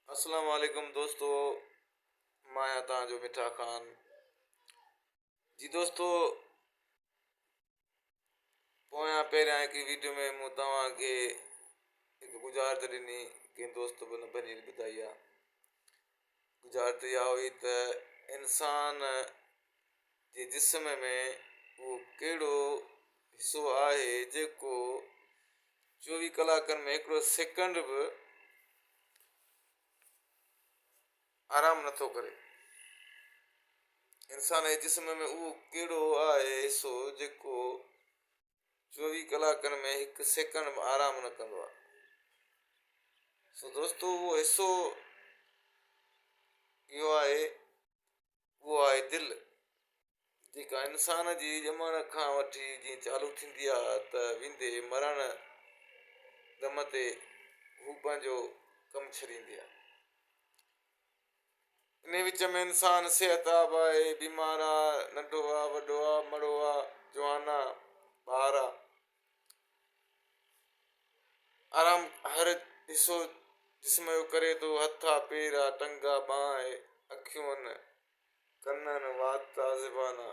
اسلام عليڪم دوستو مان آهيان توهان جو مٺا خان جي دوستو پويان پهريان هڪ ويڊيو ۾ مون توهان کي هڪ ڳجهارت ڏني ڪنهن دوست به نه ڀڃي ٻڌائي آهي گذارت اها هئي ته انسان جي جسم ۾ اهو ڪهڙو حصو آهي جيڪو چوويهه ڪلاڪن ۾ هڪڙو سيڪنڊ به آرام نه ٿو ڪري انسان جي جسم ۾ اهو ڪهڙو آهي حصو جيڪو چوويهه ڪلاڪن ۾ هڪ سيڪنڊ به آرام نه ڪندو آهي سو دوستو اهو حصو اهو آهي اهو آهي دل جيڪا انسان جي ڄمڻ کان وٺي جيئن چالو ٿيندي آهي ته ويندي مرڻ دم تي هو پنهنجو ڪم ڇڏيندي آهي انهيء وچ ۾ انسان صحت آب آهي، بيمار آ، ننڍو آ، وڏو آ، مڙو آ، جوان آ، ٻار آ. آرام هر حصو جسم جو ڪري ٿو، هٿ آ، پير آ، ٽنگ آ، ٻانهن آهي، اکيون آهن، ڪن آهن، وات آ، زبان آ.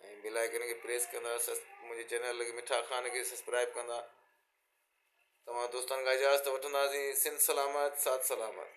۽ بيل آئيڪن کي پريس ڪندا سس منهنجي چينل لڳ مٺا خان کي سسپرائب ڪندا توهان دوستان کان اجازت وٺنداسين سنڌ سلامت ساٿ سلامت